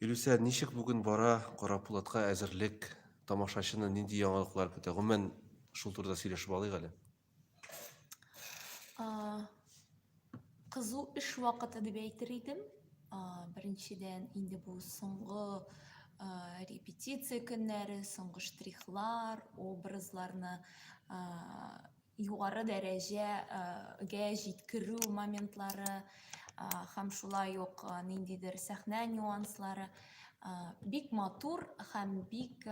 Илүсә, ничек бүген бара Карапулатка әзерлек? Тамашачыны нинди яңалыклар көтә? Гомумән, шул турыда сөйләшеп алыйк әле. Кызу эш вакыты дип әйтер идем. Беренчедән, инде бу соңгы репетиция көннәре, соңгы штрихлар, образларны югары дәрәҗәгә җиткерү моментлары һәм шулай ук ниндидер сәхнә нюанслары бик матур һәм бик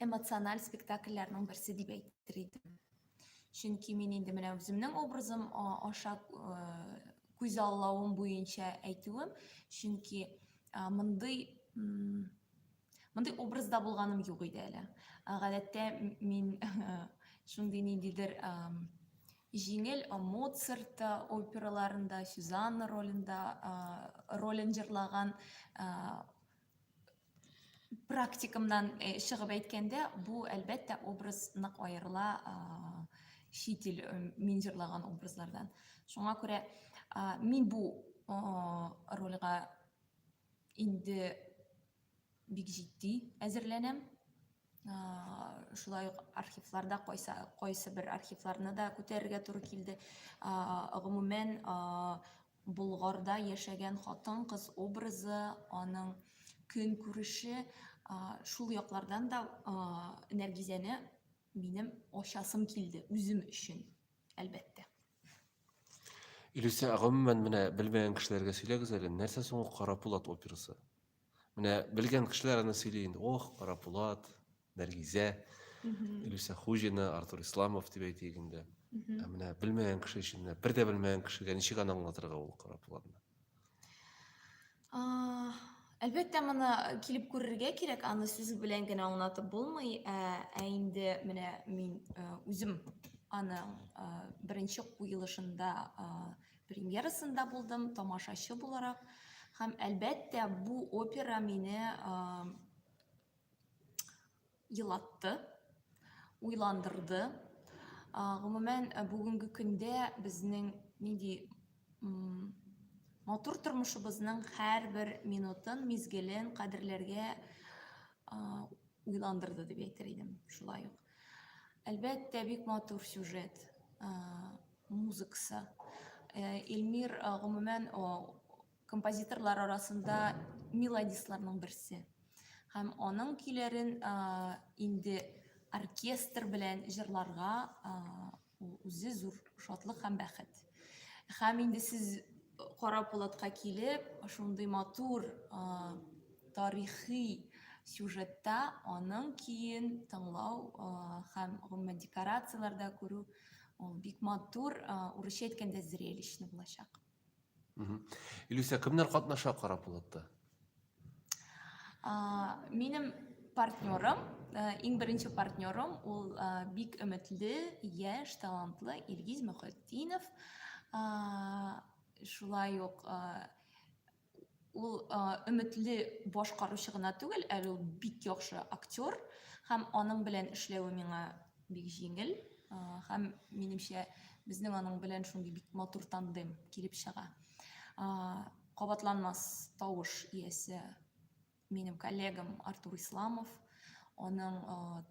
эмоциональ спектакльләрнең берсе дип әйтер идем чөнки мин инде менә үземнең образым аша күзаллавым буенча әйтүем чөнки мондый Мондый образда булганым юк иде әле. Гадәттә мин шундый ниндидер җиңел Моцарт операларында, Сюзанна ролендә ролен җырлаган практикамнан э, чыгып әйткәндә, бу әлбәттә образ нык аерыла чит ил э, мин җырлаган образлардан. Шуңа күрә мин бу рольгә инде бик җитди әзерләнәм. Шулай ук архивларда кайсы, кайсы бер архивларны да күтәрергә туры килде. Гомумән, Болгарда яшәгән хатын кыз образы, аның көн күреше, шул яклардан да Нәргизәне минем ачасым килде үзем өчен, әлбәттә. Илюсә, гомумән менә белмәгән кешеләргә сөйләгез әле, нәрсә соң ул Кара Пулат операсы? Менә белгән кешеләр аны сөйли инде. Ох, Кара Пулат, Нәргизә, Илюсә Хуҗина, Артур Исламов дип әйтик инде. Ә менә белмәгән кеше өчен, бер дә белмәгән кешегә ничек аны аңлатырга ул Кара Пулатны? Әлбәттә, моны килеп күрергә кирәк, аны сүз белән генә аңлатып булмый, ә, ә инде менә мин үзем аны беренче куелышында премьерасында булдым, тамашачы буларак. Һәм әлбәттә, бу опера мине елатты, уйландырды. Гомумән, э, бүгенге көндә безнең нинди матур тормышыбызның һәрбер минутын, мизгелен кадерләргә уйландырды дип әйтер идем. Шулай ук. Әлбәттә, бик матур сюжет, музыкасы. Эльмир, гомумән, Композиторлар арасында мелодистларның берсе. Һәм аның көйләрен инде оркестр белән җырларга үзе зур шатлык һәм бәхет. Һәм инде сез Кара Пулатка килеп, шундый матур тарихи сюжетта аның киен тыңлау һәм гомумән декорацияләрдә күрү ул бик матур, урысча әйткәндә зрелищно булачак. Илюся, кемнәр катнаша Карапулатта? Минем партнерым, иң беренче партнерым, ул бик өметле, яшь, талантлы Илгиз Мөхетдинов. Шулай ук Ул өметле башкаручы гына түгел, әле ул бик яхшы актер һәм аның белән эшләве миңа бик җиңел һәм минемчә безнең аның белән шундый бик матур тандем килеп чыга. Кабатланмас тавыш иясе минем коллегам Артур Исламов, аның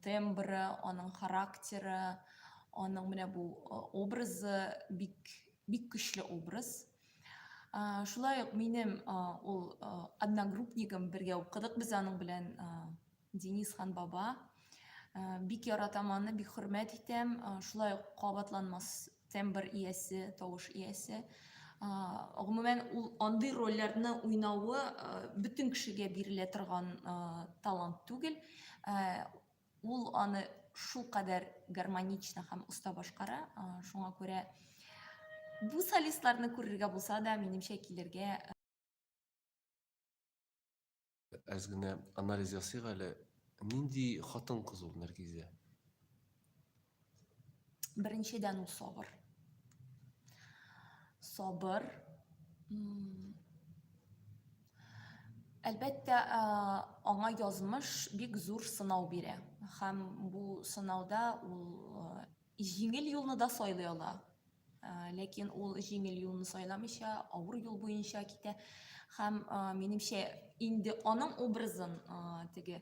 тембры, аның характеры, аның менә бу образы бик бик көчле образ. шулай ук минем ул одногруппнигым бергә укыдык без аның белән денис хан баба бик яратам аны бик хөрмәт итәм шулай ук кабатланмас тембр иясе тавыш иясе гомумән ул андый рольләрне уйнавы бөтен кешегә бирелә торган талант түгел Ул аны шул кадәр гармонично һәм оста башкара, шуңа күрә бу солистларны күрергә булса да, минемчә килергә. Әз генә анализ ясыйк әле. Нинди хатын-кыз ул Нәргизә? Беренчедән ул сабыр. Сабыр. Әлбәттә, аңа язмыш бик зур сынау бирә. Һәм бу сынауда ул җиңел юлны да сайлый ала. Ләкин ул җиңел юлны сайламыйча, авыр юл буенча китә. Һәм, минемчә, инде аның образын теге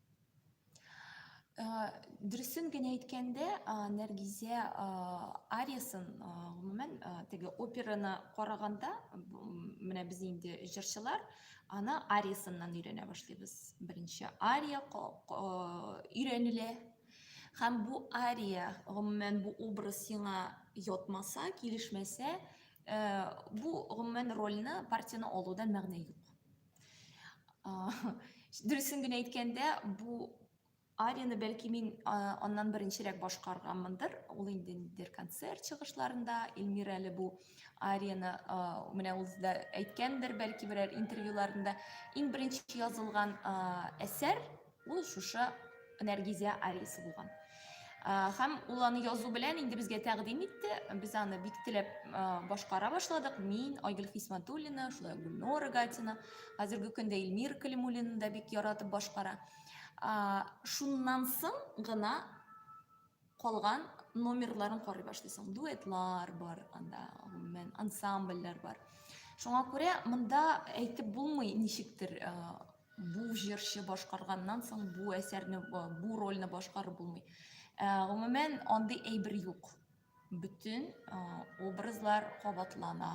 дөресен генә әйткәндә нәргизә ариясын гомумән теге операны караганда менә без инде җырчылар аны ариясыннан өйрәнә башлыйбыз беренче ария өйрәнелә һәм бу ария гомумән бу образ сиңа ятмаса килешмәсә бу гомумән рольны партияне алуда мәгънә юк Дөресен генә әйткәндә, бу арияне бәлки мин аннан беренчерәк башкарганмындыр. Ул инде ниндидер концерт чыгышларында Эльмира әле бу арияне менә үзе дә әйткәндер, бәлки берәр интервьюларында иң беренче язылган әсәр Ул шушы Нәргизә Арис булган. Һәм ул аны язу белән инде безгә тәкъдим итте. Без аны бик теләп башкара башладык. Мин, Айгөл Хисматуллина, шулай Гүлнора Гатина, хәзерге көндә Илмир Калимуллина да бик яратып башкара. Шуннан соң гына Калган номерларын карый башлыйсың. Дуэтлар бар анда, гомумән, ансамбльләр бар. Шуңа күрә монда әйтеп булмый ничектер э, бу җырчы башкарганнан соң бу әсәрне, э, бу рольне башкарып булмый. Э, гомумән, андый әйбер юк. Бөтен образлар кабатлана,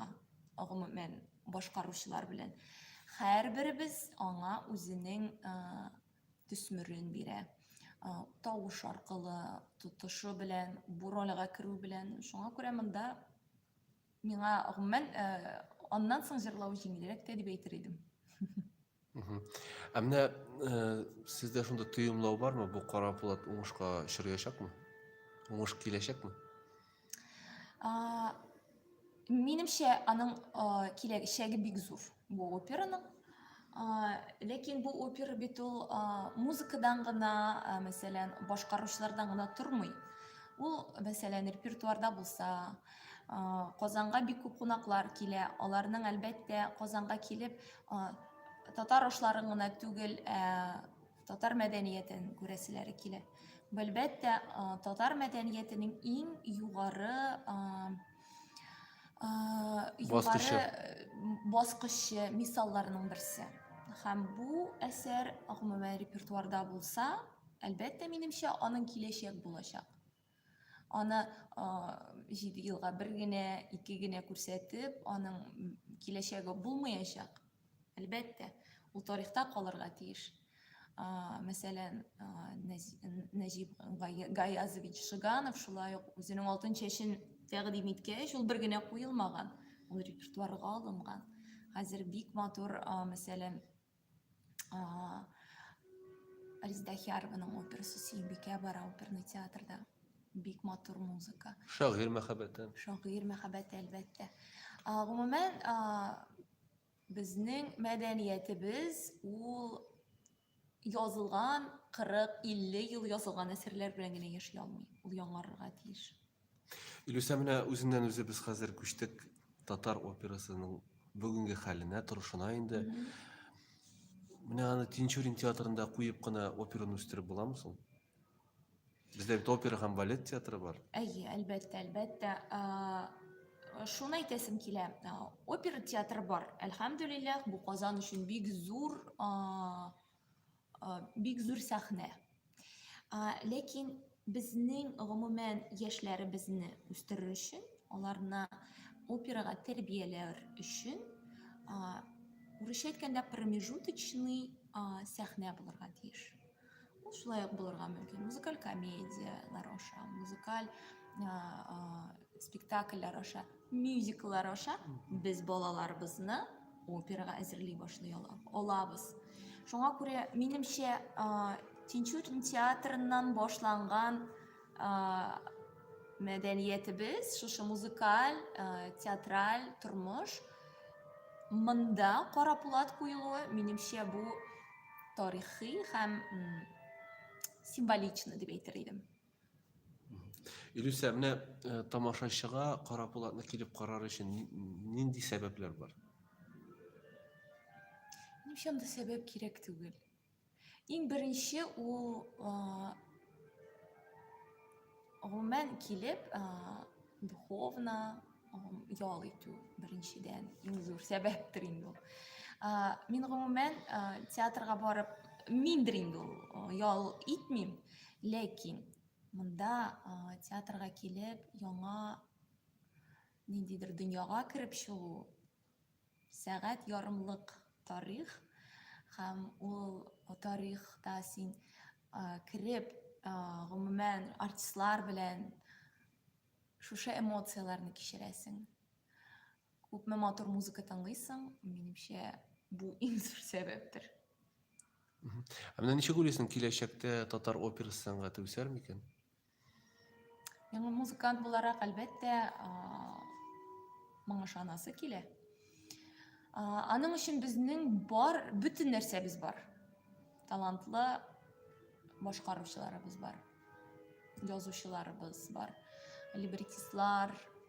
гомумән, башкаручылар белән. Һәрберебез аңа үзенең төсмерен бирә тавыш аркылы тотышы белән бу рольгә керү белән шуңа күрә монда миңа гомумән аннан соң җырлау җиңелрәк тә дип әйтер идем ә менә сездә шунда тоемлау бармы бу кара булат уңышка очраячакмы уңыш киләчәкме А, минемчә, аның а, киләчәге бик зур бу операның. А, ләкин бу опера бит ул а, музыкадан гына, а, мәсәлән, башкаручылардан гына тормый. Ул, мәсәлән, репертуарда булса, а, Казанга бик күп кунаклар килә. Аларның әлбәттә Казанга килеп а, татар ашларын гына түгел, ә, Татар мәдәниятен күрәселәре килә. Әлбәттә, татар мәдәниятенең иң югары баскычы баскычы мисалларының берсе. Һәм бу әсәр гомумән репертуарда булса, әлбәттә, минемчә, аның киләчәк булачак. Аны җиде елга бер генә, ике генә күрсәтеп, аның киләчәге булмаячак. Әлбәттә, ул тарихта калырга тиеш. Мәсәлән, Нәҗип Гаязович Шиганов шулай ук үзенең алтын чәчен тәкъдим иткәч, ул бер генә куелмаган, ул репертуарга алынган. Хәзер бик матур, мәсәлән, Риздаһиярованың операсы Сөембикә бара оперный театрда. Бик матур музыка. Шагыйрь мәхәббәте. Шагыйрь мәхәббәте әлбәттә. Гомумән, безнең мәдәниятебез ул язылган 40-50 ел язылган әсәрләр белән генә яши алмый. Ул яңарырга тиеш. Илүсә менә үзеннән үзе без хәзер күчтек татар операсының бүгенге хәленә, торышына инде. Менә аны Тинчурин театрында куеп кына операны үстереп буламы соң? Бездә бит опера һәм балет театры бар. Әйе, әлбәттә, әлбәттә. Шуны әйтәсем килә. Опера театры бар. Әлхәмдүлилләһ, бу Казан өчен бик зур Бик зур сәхнә. Ләкин безнең гомумән яшьләребезне үстерер өчен, аларны операга тәрбияләр өчен урысча әйткәндә промежуточный сәхнә булырга тиеш ул шулай ук булырга мөмкин музыкаль комедиялар аша музыкаль спектакльләр аша мюзикллар аша без балаларыбызны операга әзерли башлый алабыз. Шуңа күрә, минемчә, Тинчурин театрыннан башланган мәдәниятебез, шушы музыкаль, театраль тормыш монда кара пулат куелуы, минемчә, бу тарихи һәм символично дип әйтер идем. Илюсә, менә э, тамашачыга Кара Булатны килеп карар өчен нинди сәбәпләр бар? Ни өчен дә сәбәп кирәк түгел. Иң беренче ул гомумән килеп духовно ял итү беренчедән иң зур сәбәптер инде ул мин гомумән театрга барып миндер инде ул ял итмим ләкин монда театрга килеп яңа ниндидер дөньяга кереп чыгу Сәгать ярымлык тарих һәм ул тарихта син кереп, гомумән артистлар белән шушы эмоцияләрне кичерәсең. Күпме матур музыка тыңлыйсың, минемчә, бу иң зур сәбәптер. Ә менә ничек уйлыйсың, киләчәктә татар операсы сәнгате үсәр микән? Яңа музыкант буларак, әлбәттә, моңа ышанасы килә. Аның өчен безнең бар, бөтен нәрсәбез бар. Талантлы башкаручыларыбыз бар, язучыларыбыз бар, либретистлар,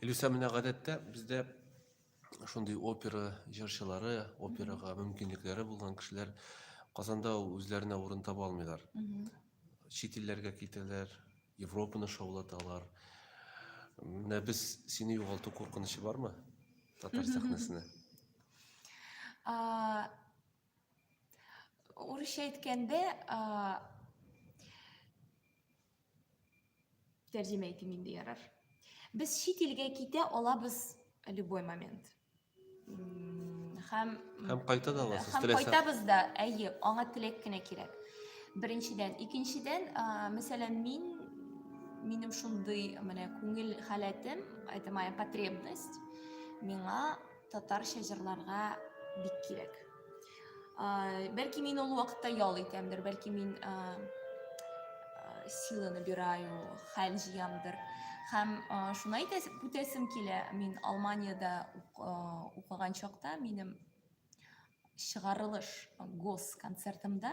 Илюса, менә гадәттә бездә шундый опера җырчылары, операга мөмкинлекләре булган кешеләр Казанда үзләренә урын таба алмыйлар. Чит илләргә китәләр, Европаны шаулаталар. Менә без сине югалту куркынычы бармы? Татар сәхнәсенә. Урысча әйткәндә, Тәрҗемә итим инде ярар. Без чит илгә китә алабыз любой момент. Һәм һәм кайта да аласыз. Һәм кайтабыз да, әйе, аңа теләк кенә кирәк. Беренчедән, икенчедән, мәсәлән, мин минем шундый менә күңел халәтем, это моя потребность, миңа татарча җырларга бик кирәк. Бәлки мин ул вакытта ял итәмдер, бәлки мин силаны бираю, хәл җыямдыр. Һәм шуны әйтәсем, үтәсем килә, мин Алманиядә укыган чакта минем чыгарылыш гос концертымда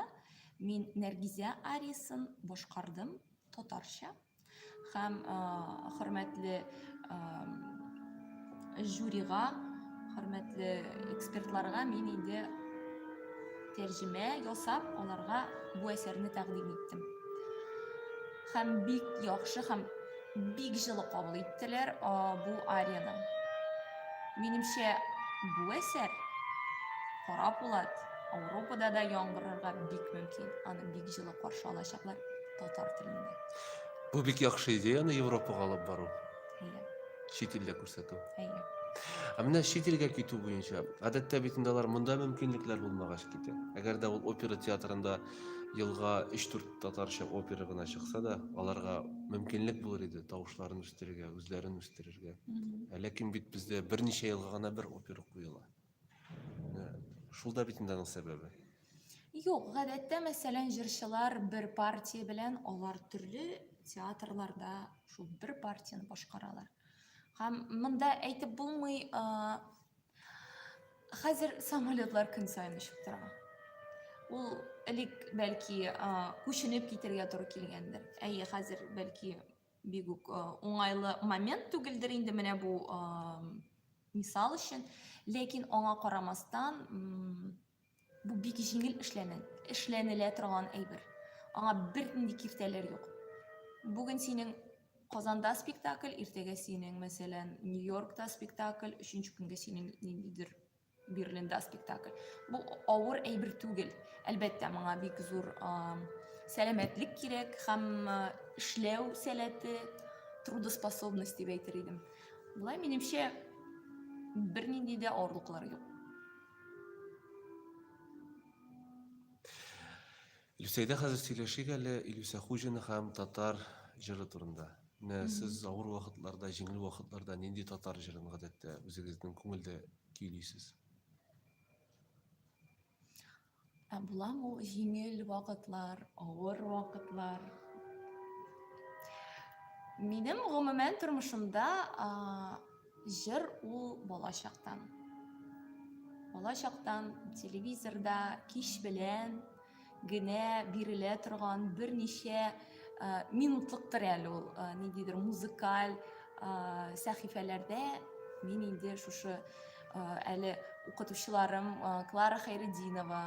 мин Нәргизә ариясын башкардым татарча. Хәм хөрмәтле жюрига, хөрмәтле экспертларга мин инде тәрҗемә ясап, аларга бу әсәрне тәкъдим иттем. Хәм бик яхшы һәм бик җылы кабул иттеләр бу арияне. Минемчә, бу әсәр Кара Пулат Ауропада да яңгырырга бик мөмкин. Аны бик җылы каршы алачаклар. татар телендә. Бу бик яхшы идеяны Европага алып бару. Әйе. Чит илдә күрсәтү. Әйе. Ә менә чит илгә китү буенча, гадәттә бит инде алар монда мөмкинлекләр булмагач китә. Әгәр дә ул опера театрында елга 3-4 татарча опера гына чыкса да, аларга мөмкинлек булыр иде тавышларын үстерергә, үзләрен үстерергә. Ә ләкин бит бездә берничә елга гына бер опера куела. Шул да бит инде аның сәбәбе. Юк, гадәттә, мәсәлән, җырчылар бер партия белән алар төрле театрларда шул бер партияне башкаралар. Һәм монда әйтеп булмый, хәзер самолетлар көн саен очып тора. Ул элек бәлки күченеп китергә туры килгәндер. Әйе, хәзер бәлки Бик үк уңайлы момент түгелдер инде менә бу мисал өчен, ләкин аңа карамастан бу бик җиңел эшләнә, эшләнелә торган әйбер. Аңа бернинди киртәләр юк. Бүген синең Казанда спектакль, иртәгә синең, мәсәлән, Нью-Йоркта спектакль, өченче көнгә синең ниндидер Берлинда спектакль. Бу авыр әйбер түгел. Әлбәттә, моңа бик зур сәламәтлек кирәк һәм эшләү сәләте, трудоспособность дип әйтер идем. Болай минемчә бернинди дә авырлыклар юк. Люсәйдә хәзер сөйләшик әле Илюсә Хуҗина һәм татар җыры турында. Менә сез авыр вакытларда, җиңел вакытларда нинди татар җырын гадәттә үзегезнең күңелдә көйлисез? Ә буламы ул җиңел вакытлар, авыр вакытлар? Минем гомумән тормышымда Җыр ул бала чактан. Бала чактан телевизорда кич белән генә бирелә торган берничә э, минутлыктыр әле ул э, ниндидер музыкаль э, сәхифәләрдә мин инде шушы әле укытучыларым Клара Хайрединова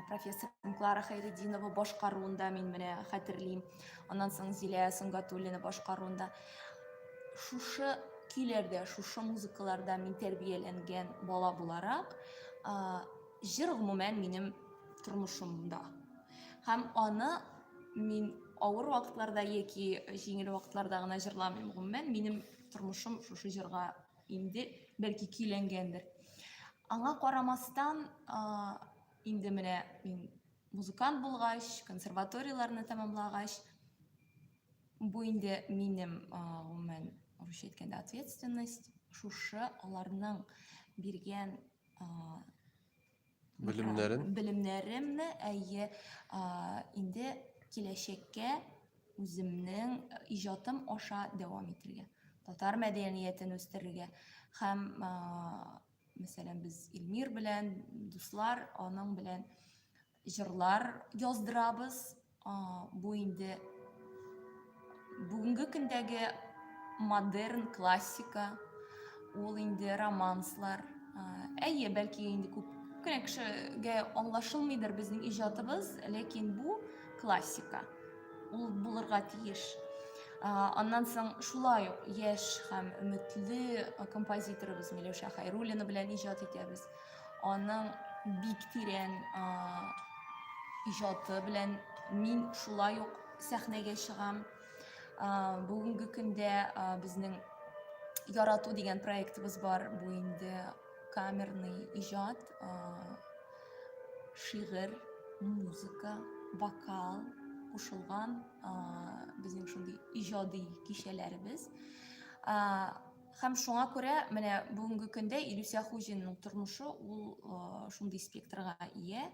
профессор Клара Хайрединова башкаруында мин менә хәтерлим. Аннан соң Зилә Сөнгатуллина башкаруында Шушы көйләрдә, шушы музыкаларда мин тәрбияләнгән бала буларак, җыр гомумән минем тормышымда. Һәм аны мин авыр вакытларда яки җиңел вакытларда гына җырламыйм гомумән минем тормышым шушы җырга инде бәлки көйләнгәндер аңа карамастан инде менә мин музыкант булгач консерваторияләрне тәмамлагач Бу инде минем, гомумән, русча әйткәндә, ответственность. Шушы аларның биргән белемнәрен белемнәремне әйе инде киләчәккә үземнең иҗатым аша дәвам итергә татар мәдәниятен үстерергә һәм мәсәлән без илмир белән дуслар аның белән Җырлар яздырабыз. Бу инде бүгенге көндәге модерн классика. Ул инде романслар. Әйе, бәлки инде күп кенә кешегә аңлашылмыйдыр безнең иҗатыбыз, ләкин бу классика. Ул булырга тиеш. Аннан соң шулай ук яшь һәм өметле композиторыбыз Миләүшә Хәйруллина белән иҗат итәбез. Аның бик тирән иҗаты белән мин шулай ук сәхнәгә чыгам. Бүгенге көндә безнең Ярату дигән проектыбыз бар. Бу инде камерный иҗат, шигырь, музыка, вокал кушылган безнең шундый иҗади кичәләребез. Һәм шуңа күрә менә бүгенге көндә Илүсә Хуҗинның тормышы ул шундый спектрга ия.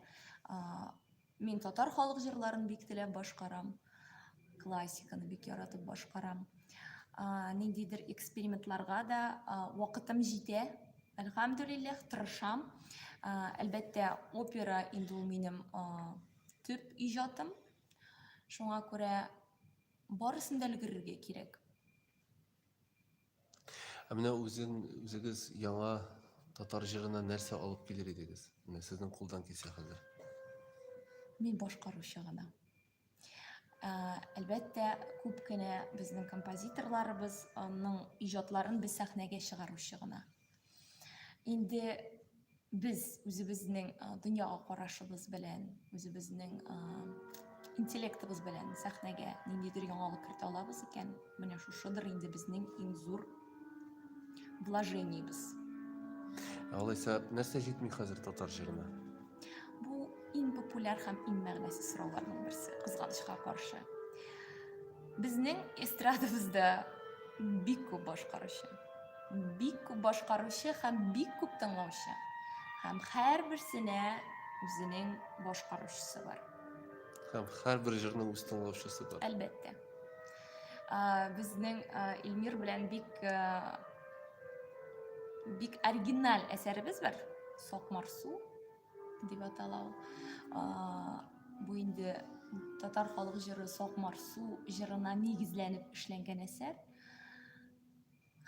Мин татар халык җырларын бик теләп башкарам, классиканы бик яратып башкарам. Ниндидер экспериментларга да вакытым җитә, әлхәмдүлилләх, тырышам. Әлбәттә, опера инде ул минем төп иҗатым. Шуңа күрә барысын да өлгерергә кирәк. Ә менә үзен үзегез яңа татар җырына нәрсә алып килер идегез? Менә сезнең кулдан килсә хәзер. Мин башкаручы гына. Ә, әлбәттә, күп кенә безнең композиторларыбызның иҗатларын без сәхнәгә чыгаручы гына. инде без үзебезнең дөньяга карашыбыз белән үзебезнең интеллектыбыз белән сәхнәгә ниндидер яңалык кертә алабыз икән менә шушыдыр инде безнең иң зур блажениебез алайса нәрсә җитми хәзер татар җырына бу иң популяр һәм иң мәгънәсез сорауларның берсе кызганычка каршы безнең эстрадабызда бик күп башкаручы Бик күп башкаручы һәм бик күп тыңлаучы. Һәм һәрберсенә үзенең башкаручысы бар. Һәм һәрбер җырның үз тыңлаучысы бар. Әлбәттә. Безнең Илмир белән бик бик оригиналь әсәребез бар. Сокмар су дип атала ул. Бу инде татар халык җыры Сокмар су җырына нигезләнеп эшләнгән әсәр.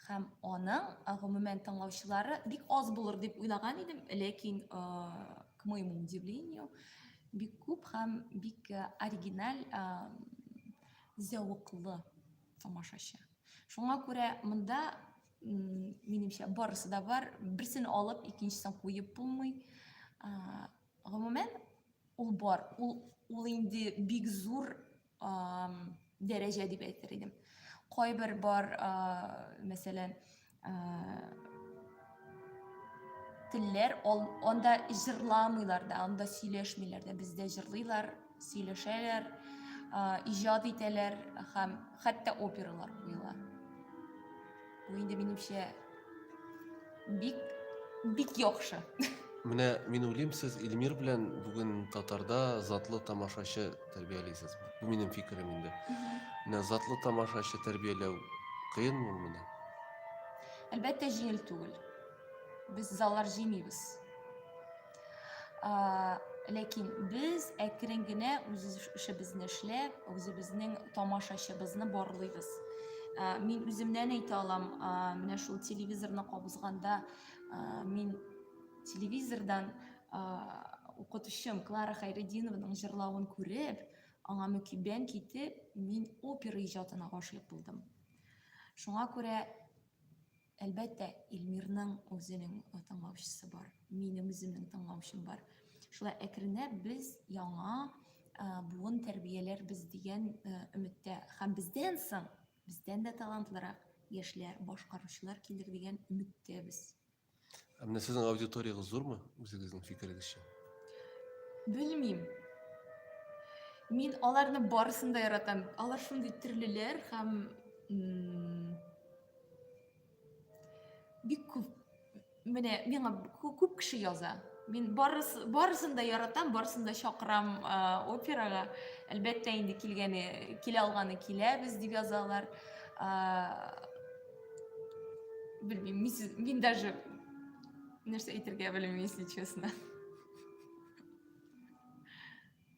һәм аның гомумән тыңлаучылары бик аз булыр дип уйлаган идем ләкин к моему удивлению бик күп һәм бик оригиналь зәвыклы тамашачы шуңа күрә монда минемчә барысы да бар берсен алып икенчесен куеп булмый гомумән ул бар ул ул инде бик зур дәрәҗә дип әйтер идем кайбер бар мәсәлән телләр анда җырламыйлар да анда сөйләшмиләр дә бездә җырлыйлар сөйләшәләр иҗат итәләр һәм хәтта опералар куела Бу инде минемчә бик бик яхшы. Менә мин уйлыйм, сез Илмир белән бүген татарда затлы тамашачы тәрбиялисез. Бу минем фикерем инде. Менә затлы тамашачы тәрбияләү кыен ул менә. Әлбәттә, җиңел түгел. Без заллар җыймыйбыз. ләкин без әкрен генә үз эшебезне эшләп үзебезнең тамашачыбызны барлыйбыз мин үземнән әйтә алам менә шул телевизорны кабызганда мин телевизордан укытучым клара хайретдинованың җырлавын күреп аңа мөкиббән китеп мин опера иҗатына гашыйк булдым шуңа күрә Әлбәттә, Илмирның үзенең тыңлаучысы бар, минем үземнең тыңлаучым бар. Шулай әкренләп без яңа буын тәрбияләрбез дигән өметтә һәм бездән соң бездән дә талантлырак яшьләр башкаручылар килер дигән өметтәбез ә менә сезнең аудиторияңыз зурмы үзегезнең фикерегезчә белмим мин аларны барысын да яратам алар шундый төрлеләр һәм бик күп менә миңа күп кеше яза мин барыс, барысын да яратам барысын да чакырам ә, операга әлбәттә инде килгәне килә алганы киләбез дип язалар ә, белмим мин, мин даже нәрсә әйтергә белмим если честно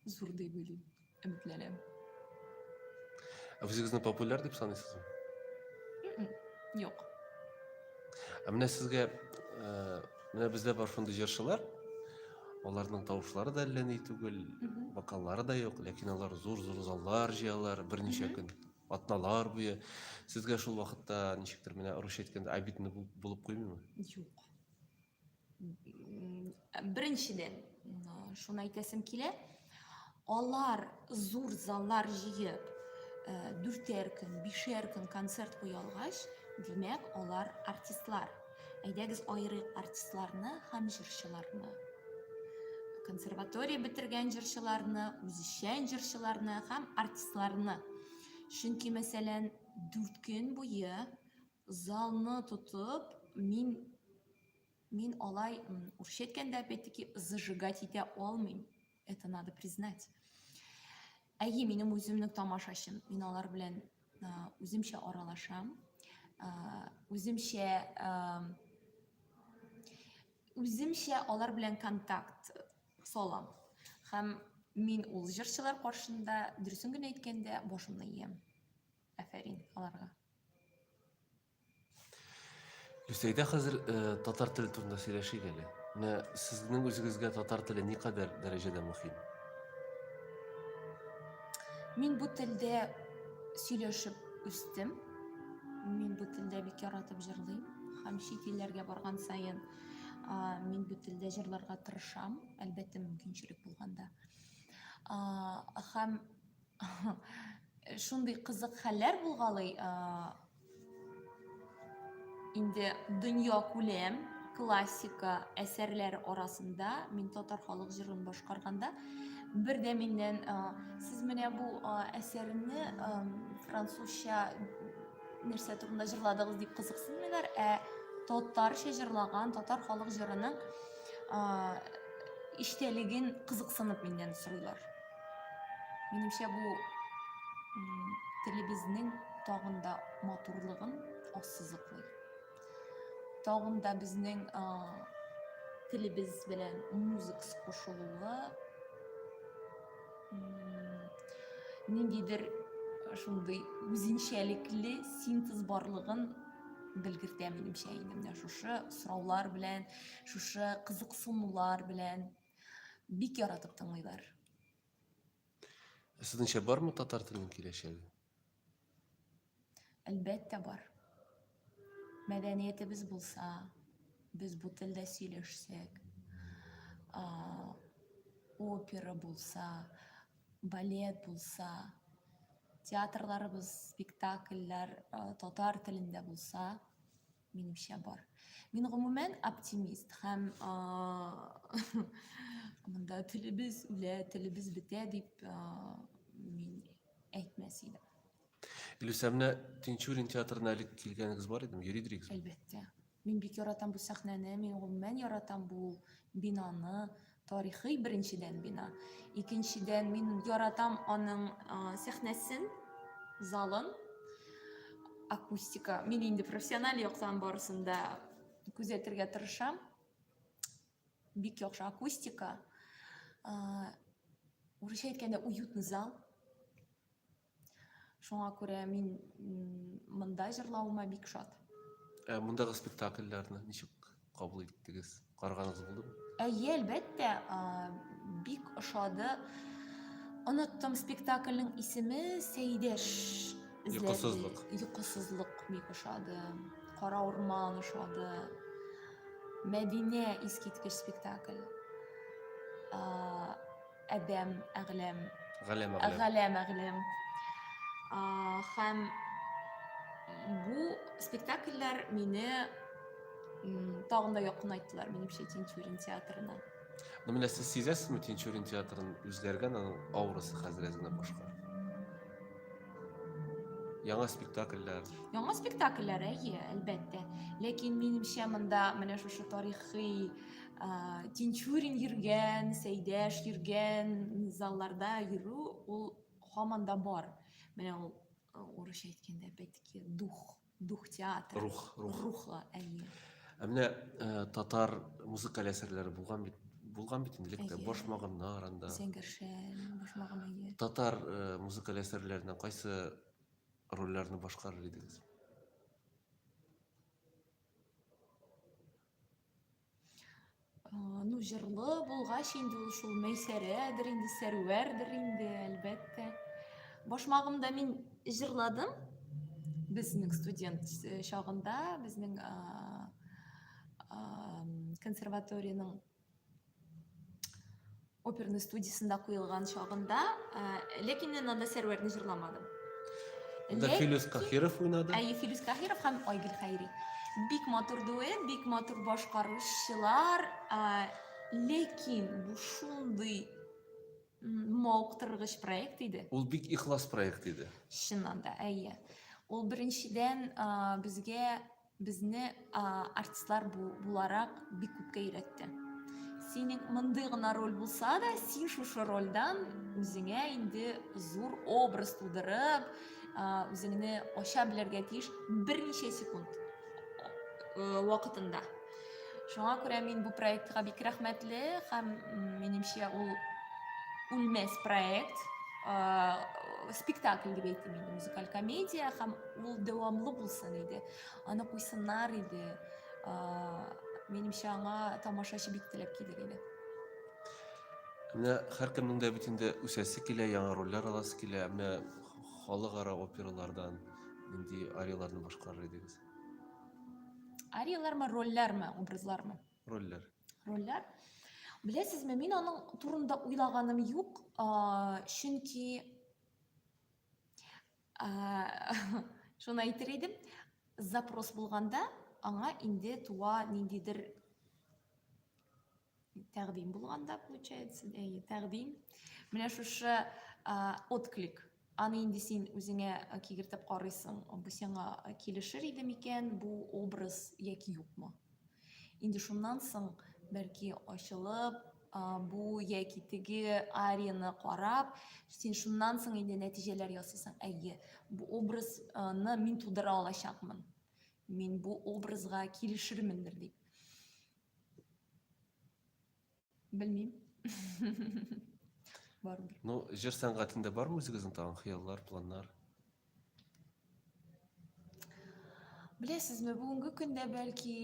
зур дип уйлыйм Өметләнәм. Ә үзегезне популяр дип саныйсызмы? Юк. Ә менә сезгә э, менә бездә бар шундый җырчылар, аларның тавышлары да әллә ни түгел, вокаллары да юк, ләкин алар зур-зур заллар җыялар берничә көн, атналар буе. Сезгә шул вакытта ничектер менә русча әйткәндә обидно булып куймыймы? Юк. Беренчедән, шуны әйтәсем килә, алар зур заллар җыеп, дүртәр көн, бишәр көн концерт куя алгач, димәк, алар артистлар. Әйдәгез аерыйк артистларны һәм җырчыларны. Консерватория бетергән җырчыларны, үзешчән җырчыларны һәм артистларны. Чөнки, мәсәлән, дүрт көн буе залны тотып мин мин алай урысча әйткәндә опять таки зажигать итә алмыйм это надо признать әйе минем үземнең тамашачым мин алар белән үземчә аралашам үземчә үземчә алар белән контакт салам һәм мин ул җырчылар каршында дөресен генә әйткәндә башымны иям афәрин аларга Лүсәйдә хәзер э, татар теле турында сөйләшик әле. Менә сезнең үзегезгә татар теле никадәр дәрәҗәдә мөһим? Мин бу телдә сөйләшеп үстем. Мин бу телдә бик яратып җырлыйм һәм чит илләргә барган саен мин бу телдә җырларга тырышам, әлбәттә мөмкинчелек булганда. Һәм Шундый кызык хәлләр булгалый. Инде дөнья күләм классика әсәрләр арасында мин татар халык җырын башкарганда бер дә миннән сез менә бу әсәрне французча нәрсә турында җырладыгыз дип кызыксынмыйлар, ә татарча җырлаган татар халык җырының иштәлеген кызыксынып миннән сорыйлар. Минемчә бу телебезнең тагын да матурлыгын ассызыклый. Тагын да безнең телебез белән музыкс кушылуы ниндидер шундый үзенчәлекле синтез барлыгын белгертә минемчә инде менә шушы сораулар белән шушы кызыксынулар белән Бик яратып тыңлыйлар. Сезнеңчә бармы татар теленең киләчәге? Әлбәттә бар. Мәдәниятебез булса, без бу телдә сөйләшсәк, опера булса, балет булса, театрларыбыз, спектакльләр татар телендә булса, Минемчә бар. Мин гомумән оптимист һәм монда телебез үлә, телебез бетә дип мин әйтмәс идем. Илюса, менә Тинчурин театрына әле килгәнегез бар идеме? Йөри идегез? Әлбәттә. Мин бик яратам бу сәхнәне, мин гомумән яратам бу бинаны, Тарихый беренчедән бина. Икенчедән мин яратам аның сәхнәсен, залын, акустика. Мин инде профессиональ яктан барысын да күзәтергә тырышам. Бик яхшы акустика. Урысча әйткәндә уютный зал. шуңа күрә мин монда җырлавыма бик шат ә мондагы спектакльләрне ничек кабул иттегез караганыгыз булдымы әйе әлбәттә бик ошады оныттым спектакльнең исеме сәйдәш йокысызлык йокысызлык бик ошады кара урман ошады мәдинә искиткеч спектакль Адәм, әгъләм. Галәм, әгъләм. Галәм, әгъләм. Хәм бу спектакльләр мине тагын да якынайттылар минемчә тинчурин театрына ну менә сез сизәсезме тинчурин театрын үзгәргән аның аурасы хәзер әзенә башка яңа спектакльләр яңа спектакльләр әйе әлбәттә ләкин минемчә монда менә шушы тарихи Тинчурин йөргән, Сәйдәш йөргән залларда йөрү ул һаман да бар. Менә ул урысча әйткәндә бәтки дух, дух театры. Рух, рух. Рухлы, әйе. Ә менә татар музыкаль әсәрләре булган бит булган бит инде лектә башмагыннар анда. Зәңгәршән башмагын әйе. Татар музыкаль әсәрләренә кайсы рольләрне башкарыр идегез? ну җырлы булгач инде ул шул мәйсәрәдер инде сәрвәрдер инде әлбәттә башмагымда мин җырладым безнең студент э, чагында безнең консерваториянең оперный студиясендә куелган чагында ә, ләкин мин анда сәрвәрне җырламадым Анда Ләкин- Филүс Каһиров уйнады. Әйе, Филүс Каһиров һәм Айгөл Хәйри. Бик матур дуэт, бик матур башкаручылар, ә, ләкин бу шундый м, мавыктыргыч проект иде. Ул бик ихлас проект иде. Чыннан да, әйе. Ул беренчедән а, безгә Безне артистлар буларак бик күпкә өйрәтте. Синең мондый гына роль булса да, син шушы рольдән үзеңә инде зур образ тудырып, үзеңне ача белергә тиеш берничә секунд э, вакытында. Шуңа күрә мин бу проектка бик рәхмәтле һәм минемчә ул үлмәс проект, спектакль дип әйтим инде, музыкаль комедия һәм Ул дәвамлы булсын иде. Аны куйсыннар иде. Минемчә аңа тамашачы бик теләп килер иде. Менә һәркемнең дә бит инде үсәсе килә, яңа рольләр аласы килә. Менә халыкара опералардан нинди арияларны башкарыр идегез? Ариялармы, рольләрме, образлармы? Рольләр. Рольләр. Беләсезме, мин аның турында уйлаганым юк, чөнки Шуны әйтер идем, запрос булганда, аңа инде туа ниндидер тәкъдим булганда, получается, әйе, тәкъдим. Менә шушы отклик аны инде син үзеңә кигертеп карыйсың, бу сиңа килешер иде микән, бу образ яки юкмы? Инде шуннан соң, бәлки, ачылып, бу яки теге арияны карап, син шуннан соң инде нәтиҗәләр ясыйсың. Әйе, бу образны мин тудыра алачакмын. Мин бу образга килешермендер дип. Белмим. Бар бер. Ну, җыр сәнгатендә бар үзегезнең тагын хыяллар, планнар? Беләсезме, бүгенге көндә бәлки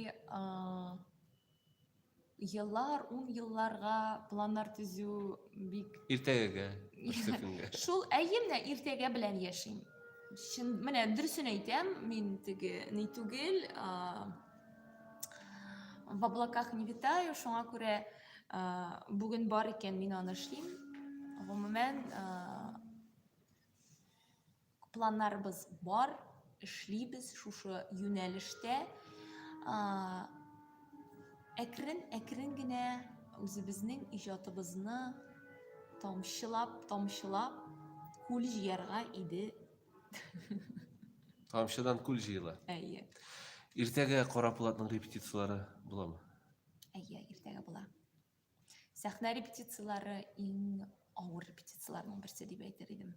еллар, ун елларга планнар төзү бик иртәгәгә, көнгә. Шул әйе менә иртәгә белән яшим. Шын менә дөресен әйтәм, мин теге ни түгел, в облаках не витаю, шуңа күрә ә, бүген бар икән мин аны эшлим. Гомумән, ә, планнарыбыз бар, эшлибез шушы юнәлештә. Ә, әкрен, әкрен генә үзебезнең иҗатыбызны тамчылап, тамчылап күл җыярга иде Тамчыдан күл җыела. Әйе. Иртәгә Кара Булатның репетицияләре буламы? Әйе, иртәгә була. Сәхнә репетицияләре иң авыр репетицияләрнең берсе дип әйтер идем.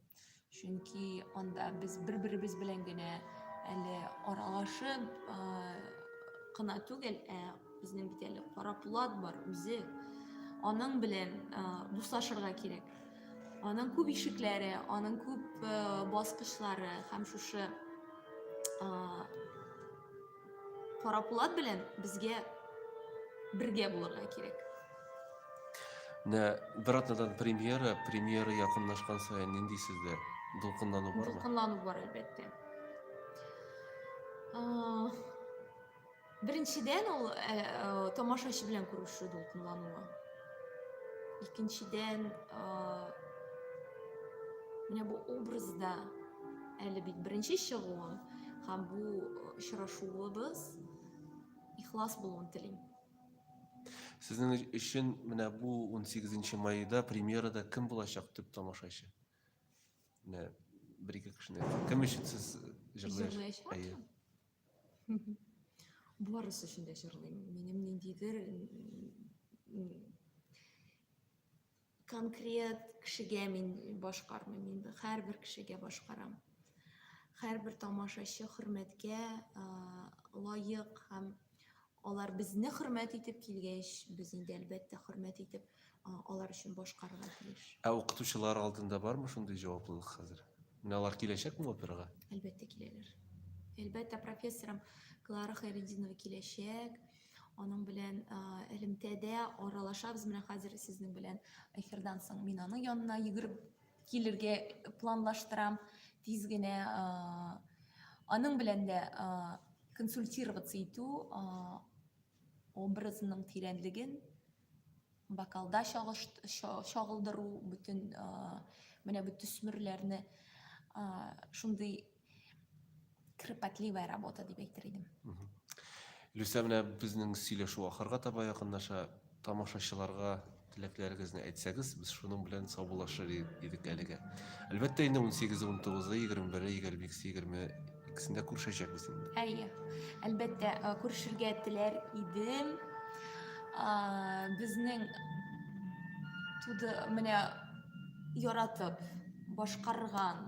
Чөнки анда без бер-беребез белән генә әле аралашып кына түгел, ә безнең бит әле Кара Булат бар үзе. Аның белән дуслашырга кирәк. Аның күп ишекләре, аның күп э, баскычлары һәм шушы э, кара пулат белән безгә бергә булырга кирәк. Менә бер атнадан премьера, премьера якынлашкан саен нинди сездә дулкынлану бармы? Дулкынлану бар әлбәттә. Беренчедән, ул э, э, тамашачы белән күрешү дулкынлануы. Икенчедән, э, менә бу образда әле бит беренче чыгуым һәм бу очрашуыбыз ихлас булуын телим. Сезнең өчен менә бу 18 майда премьерада кем булачак төп тамашачы? Менә бер-ике кешене. Кем өчен сез җырлаячак? Барысы өчен дә җырлыйм. Минем ниндидер конкрет кешегә мин башкармыйм инде һәрбер кешегә башкарам һәрбер тамашачы хөрмәткә лаек һәм Алар безне хөрмәт итеп килгәч, без инде, әлбәттә, хөрмәт итеп, алар өчен башкарырга тиеш. Ә укытучылар алдында бармы шундый җаваплылык хәзер? Менә алар киләчәкме операга? Әлбәттә, киләләр. Әлбәттә, профессорым Клара Хайретдинова киләчәк. Аның белән элемтәдә аралашабыз. Менә хәзер сезнең белән эфирдан соң мин аның янына йөгереп килергә планлаштырам тиз генә аның белән дә консультироваться итү образының тирәнлеген бокалда чагылдыру бөтен менә бу төсмерләрне шундый кропотливая работа дип әйтер идем. Люся, менә безнең сөйләшү ахырга таба якынлаша. Тамашачыларга теләкләрегезне әйтсәгез, без шуның белән саубуллашыр идек әлегә. Әлбәттә инде 18, 19, 21, 22, 20 икесендә күрешәчәкбез инде. Әйе. Әлбәттә, күрешергә теләр идем. Безнең туды менә яратып башкарган